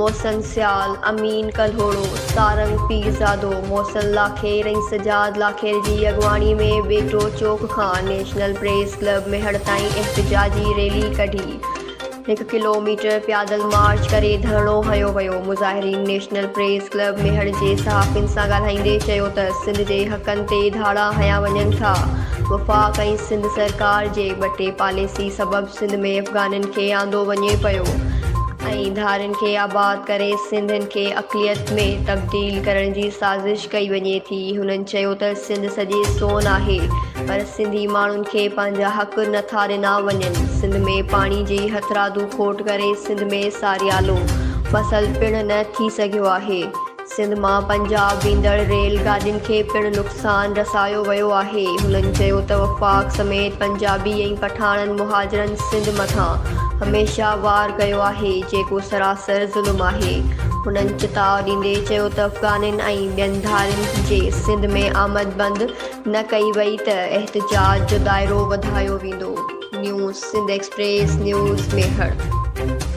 محسن سيال، امين ڪلهوڙو، سارنگ پيرزادو، محسن لاکير ۽ سجاد لاکير جي اڳواڻي ۾ ٻيٽو چوڪ کان نيشنل پريس ڪلب ميهڙ تائين احتجاجي ريلي ڪڍي هڪ ڪلوميٽر پيادل مارچ ڪري ڌرڻو هنيو ويو. مظاهرين نيشنل پريس ڪلب ميهڙ جي صحافين سان ڳالهائيندي چيو ته سنڌ جي حقن تي ڌاڙا هنيا وڃن ٿا، وفاق ۽ سنڌ سرڪار جي ٻٽي پاليسي سبب سنڌ ۾ افغانين کي آندو وڃي پيو ۽ ڌارين کي آباد ڪري سنڌين کي اقليت ۾ تبديل ڪرڻ جي سازش ڪئي وڃي ٿي هنن چيو ته سنڌ سڄي سون آهي پر سنڌي ماڻهن کي پنهنجا حق نه ٿا ڏنا وڃن سنڌ ۾ پاڻي جي هٿرادو کوٽ ڪري سنڌ ۾ ساريالو فصل پڻ نه ٿي سگهيو آهي سنڌ مان پنجاب ويندڙ ريل گاڏين کي پڻ نقصان رسايو ويو آهي. هنن چيو ته وفاق سميت پنجابي ۽ پٺاڻن مهاجرن سنڌ مٿان هميشه وار ڪيو آهي، جيڪو سراسر ظلم آهي. هنن چتاء ڏيندي چيو ته افغانين ۽ ٻين ڌارين جي سنڌ ۾ آمد بند نه ڪئي وئي ته احتجاج جو دائرو وڌايو ويندو. News Sindh express news, Mehar.